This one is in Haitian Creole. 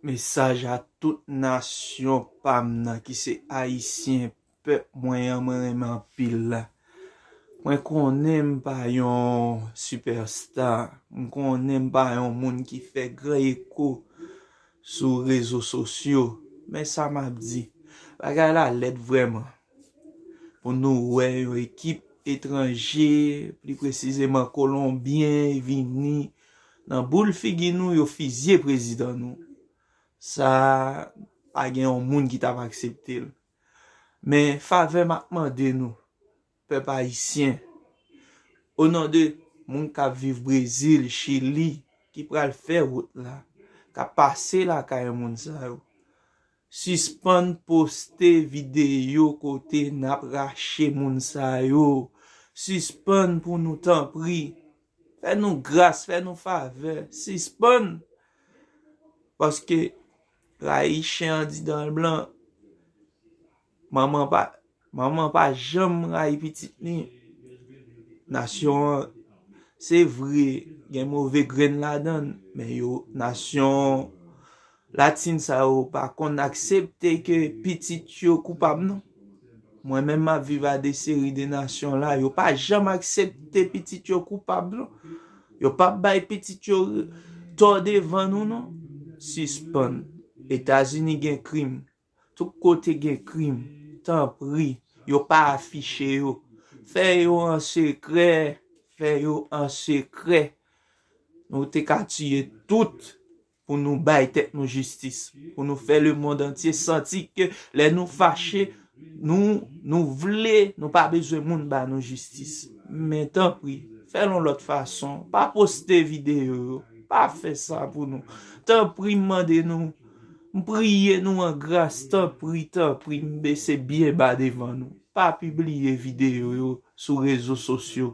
Mesaj a tout nasyon pam nan ki se ayisyen pèp mwen an mwen renmen anpil la mwen konnen m pa yon super star m konnen m pa yon moun ki fè gran eko sou rezo sosyo men sa map di bagay la lèd vrèman pou nou wè yon ekip etranje pli presizeman kolonbyen vini Nan boul figi nou yo fizye prezidan nou. Sa pa gen yon moun ki tap aksepte l. Men favè map mande nou pèp ayisyen o non de moun kap viv brezil, chili ki pral fè wout la kap pase lakay moun sa yo sispann poste videyo kote nap rache moun sa yo sispann pou nou tanpri. Fè nou gras, fè nou favè, sispann paske rayi chen an di dan l blan, manman pa manman an pa janm rayi pitit li, nasyon an se vre gen move grenn ladan l men yo nasyon Latin sa yo pa konn aksepte ke pitit yo koupab non. Mwen menm map viv a de seri de nasyon la, yo pa janm aksepte pitit yo koupab non. Yo pap bay pitit yo tò devan nou non. Sispann. Etazini gen krim. Tout kote gen krim. Tanpri. Yo pa afiche yo. Fè yo an sekrè. Fè yo an sekrè. Nou te ka tiye tout. pou nou bay tèt nou jistis, pou nou fè le mond antye santi ke lè nou fache, nou, nou vle, nou pa bezwen moun ba nou jistis. Men tanpri, fèl yon lòt fason, pa poste videyo yo, pa fè sa pou nou. Tanpri m mande nou, m priye nou an gras, tanpri, tanpri, m bese byen ba devan nou, pa pibliye videyo yo sou rezo sosyo.